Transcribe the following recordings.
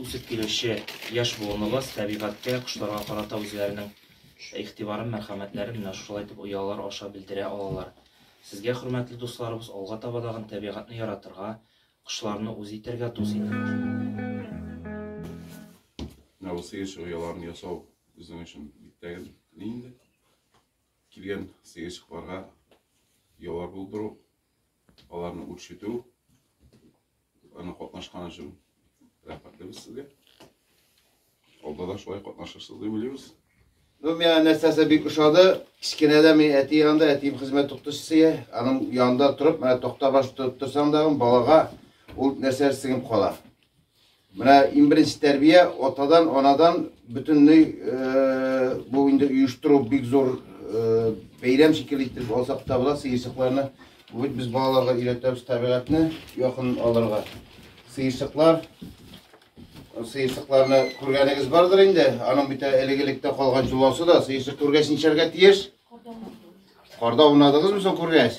үсеп килүче яшь буыныбыз табигатькә, кошларга карата үзләренең игътибарын, мәрхәмәтләрен менә шулай итеп оялар аша белдерә алалар. Сезгә, хөрмәтле дусларыбыз, алга таба дагын табигатьне яратырга, кошларны үз итәргә, дус итәргә. Менә бу сыерчык ояларын ясау безнең өчен бик тәгәрәкле инде. Килгән сыерчыкларга оялар булдыру, Аларны үрчетү, аны катнашкан өчен рәхмәтлебез сезгә. Алда да шулай катнашырсыз дип уйлыйбыз. Ну, миңа нәрсәсе бик ошады. Кечкенәдә мин әти янында, әтием хезмәт укытучысы, аның янында торып, менә токта баш торып торсаң да, балага ул нәрсә сеңеп кала. Менә иң беренче тәрбия атадан, анадан бөтенләй э, бу инде оештыру бик зур э, бәйрәм шикелле итеп алсак та була сыерчыкларны. Бүген без балаларга өйрәтәбез табигатьне якын алырга. Сыерчыклар сыерчыкларны күргәнегез бардыр инде. Аның бит элек-электә калган җоласы да сыерчык күргәч ничәргә тиеш? Карда унадыгызмы соң күргәч?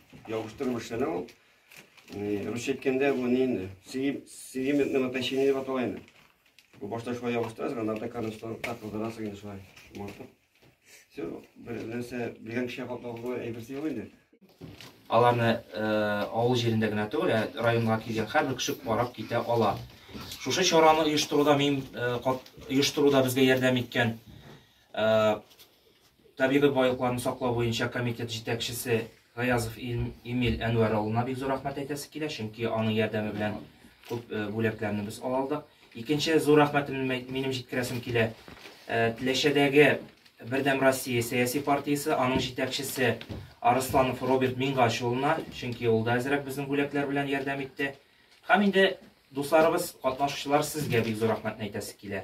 Ябыштырып эшләнә ул. Русча әйткәндә бу ни инде? Сегментный натащение дип атала инде. Бу башта шулай ябыштырасың, анда атаканы станокта кылдырасың инде шулай. Мартып. Все, бер нәрсә белгән кешегә каплауга әйберсе юк инде. Аларны э, авыл җирендә генә түгел, ә районга килгән һәрбер кеше карап китә ала. Шушы чараны оештыруда мин э, оештыруда безгә ярдәм иткән Табигый байлыкларны саклау буенча комитет җитәкчесе Гаязов Эмиль Әнвәр улына бик зур рәхмәт әйтәсе килә, чөнки аның ярдәме белән күп бүләкләрне без ала алдык. Икенче зур рәхмәтемне минем җиткерәсем килә. Теләчәдәге Бердәм Россия сәяси партиясе, аның җитәкчесе Арысланов Роберт Мингач улына, чөнки ул да әзрәк безнең бүләкләр белән ярдәм итте. Һәм инде дусларыбыз, катнашучылар, сезгә бик зур рәхмәтне әйтәсе килә.